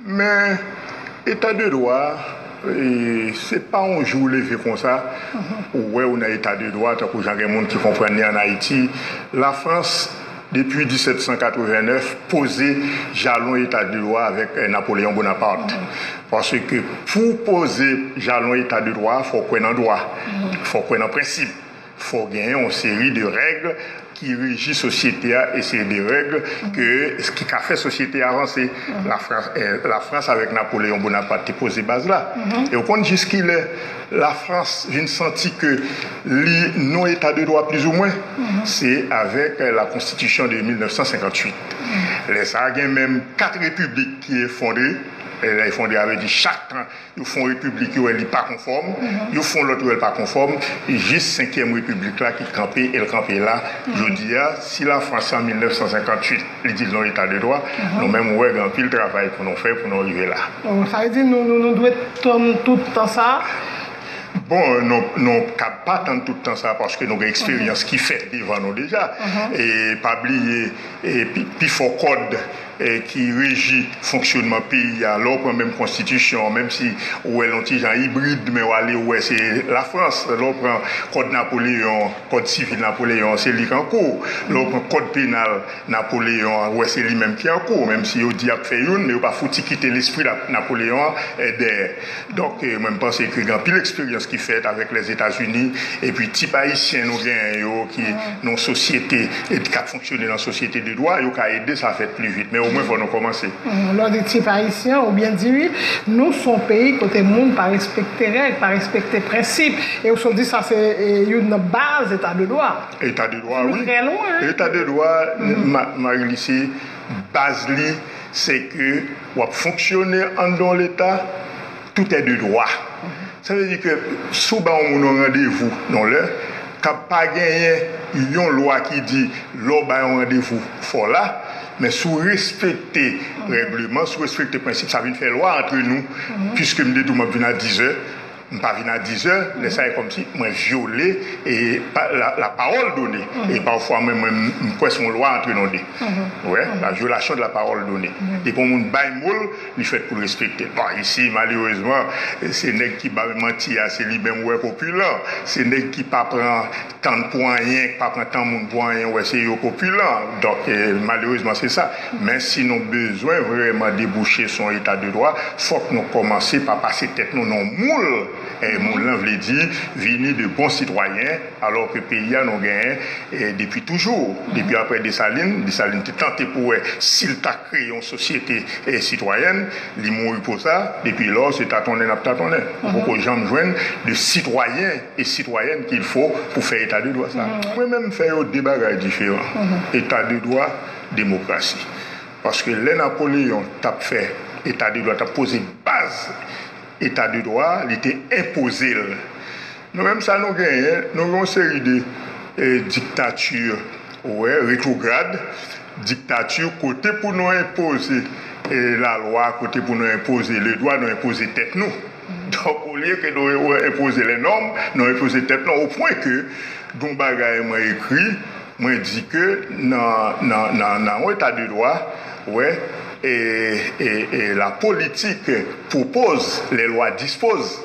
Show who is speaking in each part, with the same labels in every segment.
Speaker 1: Men, eta de dwa, se pa yon jou w leve konsa, ou wè ou nan eta de dwa, tankou jan gen moun ki konprann li an Ayiti. Lafrans, depi 1789, poze jalon eta de dwa avèk Napoleon Bonaparte. Paske pou w poze jalon eta de dwa a, fò w kwè nan dwa, fò w kwè nan prensip. Fò w genyen yon seri de règ ki reji sosyete a e se de règ ke ki ka fè sosyete a vanse. Lafrans Lafrans avèk Napoleyon Bonapat te poze baz la. E ou konn jiskilè Lafrans vin santi ke li non eta de dwa plizoumwen? Se avèk la konstitisyon de 1958. Lè sa a gen menm 4 repiblik ki efondre. Lè efondre a vle di chak tan Yo fon repiblik yo wè li pa konfòm, yo fon lòt yo wè li pa konfòm, jis senkyèm repiblik la ki kanpe el kanpe la jodi a. Si Lafrans an 1958 li di l non eta de dwa, nou menm ou wè gen anpil travay pou nou fè pou nou rive la. Sa vle di nou
Speaker 2: nou dwe tann tout tan sa a? Bon,
Speaker 1: nou kab pa tann tout tan sa a paske nou gen eksperyans ki fèt devan nou deja. E pa bliye pi fò kòd. ki reji fonksyonman peyi a, lè w pran menm konstitisyon an, menm si ou wè l yon ti jan ibrid, men w ale ou wè se Lafrans, lè w pran kòd Napoleyon, kòd sivil Napoleyon an, se li k an kou, lè w pran kòd penal Napoleyon an, ou wè se li menm ki an kou, menm si yo di y ap fè youn, men yo pa fouti kite lespri Napoleyon an dèyè. Donk mwen m panse ke gen anpil eksperyans ki fèt avèk Lèzetazini epi tip Ayisyen nou genyen yo ki nan sosyete epi k ap fonksyone nan sosyete de dwa, yo ka ede sa fèt pli vit. Men omwen fò nou kòmanse. Lè w di tip
Speaker 2: Ayisyen, ou byen di wi. Nou s on peyi kote moun pa respekte règ, pa respekte prensip. E ou sot di sa se youn nan baz eta de dwa. Eta de dwa wi.
Speaker 1: Eta de
Speaker 2: dwa,
Speaker 1: Marie-Luce, baz li se ke. W ap fonksyone anndan yon Leta toutè de dwa. Sa vle di ke si w ba yon moun yon randevou yon lè, kab pa genyen yon lwa ki di lè w bay yon randevou fò w la, men si w respekte règleman, si w respekte prensip, sa vin fè lwa antre nou, piske m te di w m ap vin a dizè. M pa vin a dizè, lè sa e kòmsi mwen vyole la parole donnée e pafwa mwen menm m kwè son lwa antre nan de. Ou wè? La violation de la parole donnée. Depi yon moun bay mo l, li fèt pou l respekte l. Bon, isi malerezman, se nèg ki bay manti a se li menm ou wè popilan. Se nèg ki pa pran. tann pou anyen, pa pran tan moun pou anyen wè se yo kopilan donk malerezman se sa men si nou bezwen vrèman debouche sou yon eta de dwa fòk nou kòmanse pa pase tèt nou nan yon moul e moul lan vle di vini de bon sitwayen alò ke peyi a nou genyen depi toujou depi aprè Desalin, Desalin te tante pou wè si l ta kreye yon sosyete sitwayèn li mouri pou sa depi lò se tatonnen n ap tatonnen ou poko janm jwenn de sitwayen. e sitwayèn kil fo pou fè eta de dwa sa. Mwen menm m fè yo de bagay diferan, eta de dwa, demokrasi. Paske lè Napoleon tap fè eta de dwa, tap poze baz eta de dwa a, li te enpoze l. Nou menm sa nou genyen, nou gen yon seri de diktati, ou wè, retrograd, diktati kote pou nou enpoze lalwa, kote pou nou enpoze le dwa, nou enpoze tèt nou. Donk olye ke nou enpoze lè nòm, nou enpoze tèt nou o pwen ke gon bagay mwen ekri, mwen di ke nan yon eta de dwa, wè, e la politik pwopoz, lè lwa dispoz,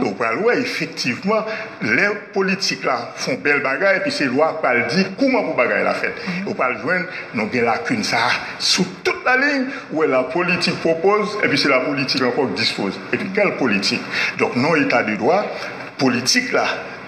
Speaker 1: ou pral wè efektivman lè politik la fon bèl bagay epi se lwa k pral di kouman pou bagay la fèt. Ou pral jwenn nou gen lakin sa a. Sou tout la liy, ou wè la politik pwopoz, epi se la politik ankò k dispoz. Epi kèl politik! Donk nan yon eta de dwa, politik la,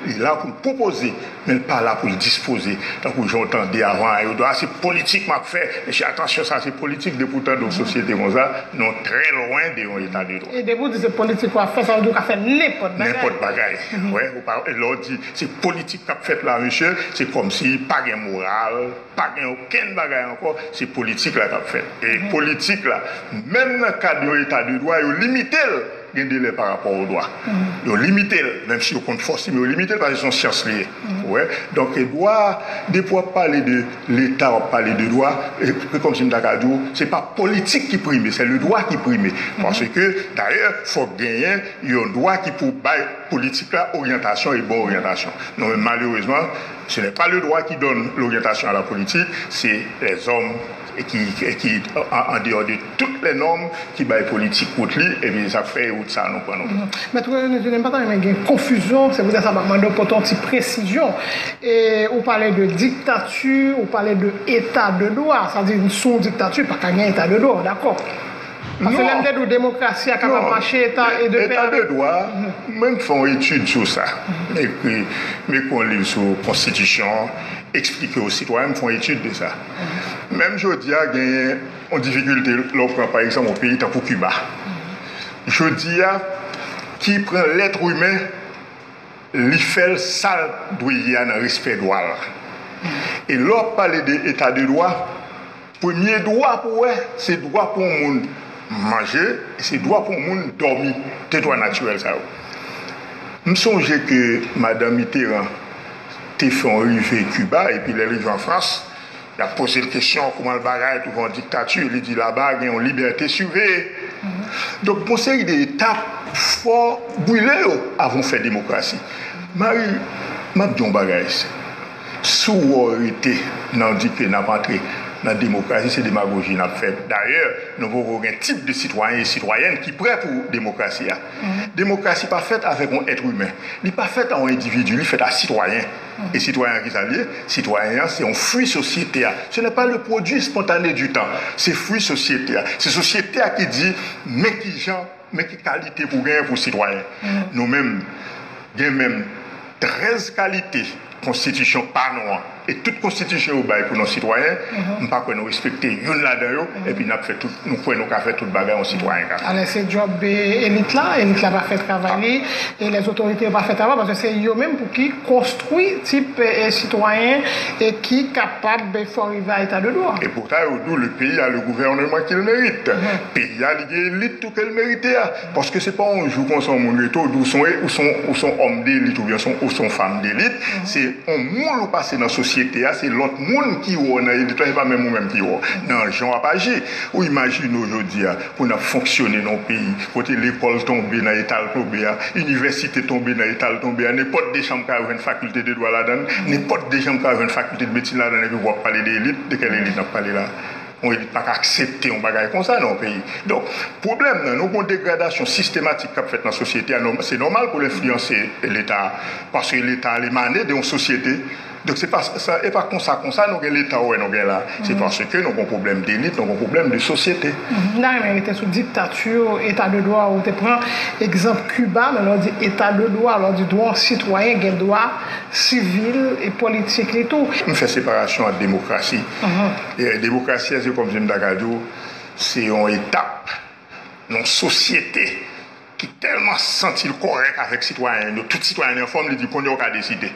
Speaker 1: li la pou l pwopoze, men l pa la pou l dispoze. Tankou jan w tande avan a yo di w, a se politik m ap fè, mesye atansyon sa se politik, depi w tande yon sosyete konsa, nou trè lwen de yon eta de dwa. E depi w di se politik
Speaker 2: w ap fè, sa vle di w ka fè nenpòt bagay. Nenpòt bagay, wè,
Speaker 1: ou pa, lè w di se politik k ap fèt la mesye, se kòmsi pa gen moral. Pa gen okenn bagay ankò, se politik la k ap fèt. E politik la, menm nan kad yon eta de dwa, yo limite l gen delè pa rapò o dwa. Yo limite l, menm si yo konn fòs li, men yo limite l paske se yon syans li ye. Ou wè? Donk e dwa a, depi w ap pale de leta, w ap pale de dwa, se kòmsi m ta ka di w, se pa politik ki prime, sè le dwa ki prime. Paske dayè, fòk genyen yon dwa ki pou bay politik la oryantasyon e bon oryantasyon. Non men malerezman. Ce n'est pas le droit qui donne l'orientation à la politique, c'est les hommes qui en dehors de toutes les normes qui bay politique route li et puis sa fè e route sa nou pran nou pran. Mèt Renlde
Speaker 2: Julien m pa ta renmen gen konfizyon, se poutèt sa m ap mande w pote yon ti presizyon. Ou pale de diktati, ou pale de eta de dwa, sa vle di sou yon diktati pa ka gen eta de dwa, ou dakò? Pase lè m te di w demokrasi a kapab mache eta de dwa. Eta de
Speaker 1: dwa, mwen fè yon etid sou sa. M ekri, m ekri yon liv sou konstitisyon an, eksplike o sitwayen, m fè yon etid de sa. Menm jodi a genyen yon difikilte lè w pran pa egzanp yon peyi tankou Kiba. Jodi a ki pran lèt imen li fè l sa l dwe ye a nan respè dwa l. E lè w ap pale de eta de dwa. Premye dwa pou wè, se dwa pou yon moun manje, e se dwa pou yon moun dòmi. Se dwa natirèl sa yo. M sonje ke Madan Mitterrand te fè yon rive Kiba, epi lè l rive an Frans, y ap poze l kesyon kouman l bagay touvan yon diktati, li di laba gen yon libète siveye. Donk gon seri de etap fò bwile yo avan w fè demokrasi. Mari, m ap di w yon bagay. Si w rete nan dipe n ap antre nan demokrasi, se demagoji n ap fè. Dayè, nou poko gen tip de sitwayen e sitwayèn ki prè pou demokrasi a. Demokrasi pa fèt avèk yon èt imen. Li pa fèt a yon endividi, li fèt a sitwayen. E sitwayen an ki sa l ye? Sitwayen an se yon fwi sosyete a. Se nè pa le pwodui espontane di tan. Se fwi sosyete a. Se sosyete a ki di men ki jan. Men ki kalite pou gen pou sitwayen. Nou menm gen menm 13 kalite konstitisyon pa nou an e tout konstitisyon yo bay pou nou sitwayen, m pa kwè nou respekte youn ladan yo epi n ap fè tout, nou kwè nou ka fè tout bagay yon sitwayen ka fè. Alè se djòb
Speaker 2: elit la, elit la pa fè travay li e lè zotorite yo pa fè travay paske se yo menm pou ki konstwi tip sitwayen e ki kapab fò rive a eta de dwa. E poutan yo di w le
Speaker 1: peyi a le gouvèneman ki l merite. Peyi a. Gen elit tou ke l merite a. Paske se pa yon jou konsa yon moun rete w di w son ou son òm delit oubyen ou son fanm delit. Se yon moul ou pase nan sosyete a. Se lòt moun ki wè w nan elit la, se pa menm ou menm ki wè w nan jan w ap aji. Ou imajine w jodi a pou n ap fonksyone nan yon peyi kote lekòl tonbe nan eta l tonbe a, inivèsite tonbe nan eta l tonbe a, nenpòt de chanm ka jwenn fakilte de dwa ladan l, nenpòt de chanm ka jwenn fakilte de medsin ladan l epi pou w ap pale de elit. De kèl elit n ap pale la a? Yon elit pa ka aksepte yon bagay konsa nan yon peyi. Donk, pwoblèm nan, nou gen yon degradasyon sistematik k ap fèt nan sosyete a. Se nòmal pou l enfliyanse Leta a, paske Leta a li emane de yon sosyete. Donk, se pa sa, e pa konsa konsa nou gen Leta ou wè nou gen la a. Se paske nou gen yon pwoblèm delit, nou gen yon pwoblèm de sosyete. M ta renmen rete
Speaker 2: sou diktati yo, Eta de dwa a. Ou te pran egzanp Kiba, men lè w di Eta de dwa, lè w di dwa yon sitwayen gen dwa sivil e politik li tou. M fè separasyon ant
Speaker 1: demokrasi. Demokrasi a se kòmsi m ta ka di w, se yon etap nan yon sosyete ki tèlman santi l kòrèk avèk sitwayen l yo, tout sitwayen l yo anfòm, li di kounye a w ka deside.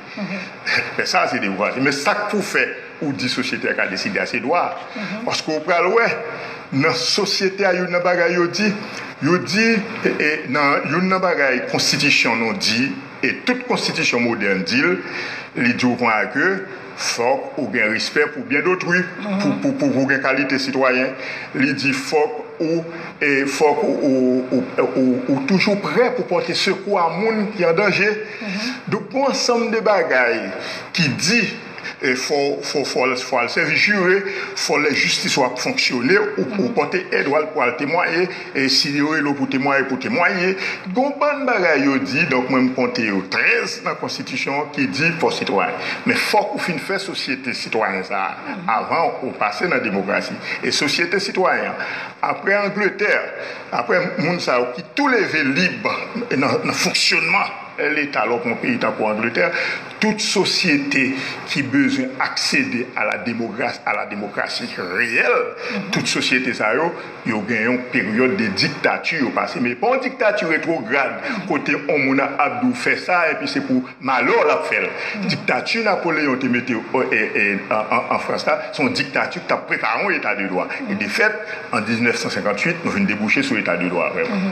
Speaker 1: Men sa a se demokrasi. Men sa k pou fè ou di sosyete a ka deside a se dwa a. Paske ou pral wè nan sosyete a youn nan bagay yo di, yo di nan youn nan bagay konstitisyon nou di e tout konstitisyon modèn di l, li di w kounye a ke, Fòk ou gen respè pou byen dotrui pou gen kalite sitwayen. Li di fòk ou fòk ou toujou prè pou pòte sekou a moun ki an danje. Donk gon ansanm de bagay ki di fò al sèvi jire, fò lè jistis ou ap fonksyone ou pòte èd ou al temwaye. E si yo rele w pou temwaye, pou temwaye. Gen yon bann bagay yo di, donk mwen m konte yo 13 nan konstitisyon an ki di fò sitwayen. Men fòk ou fin fè sosyete sitwayen sa a avan ou pase nan demokrasi. E sosyete sitwayen an, aprè Angletè, aprè moun sa yo ki tou leve lib nan fonksyonman Leta lò pou yon peyi tankou Angletè, tout sosyete ki bezwen aksede a la demokrasi reyèl, tout sosyete sa yo, Yo gen yon peryòd de diktati yo pase, men pa yon diktati retwograd kote yon moun ap di w fè sa epi se pou malè w l ap fè l. Diktati Napoleyon te mete an Frans la, se yon diktati ki t ap prepare yon eta de dwa. E defèt, an 1958, nou vin debouche sou eta de dwa vrèman.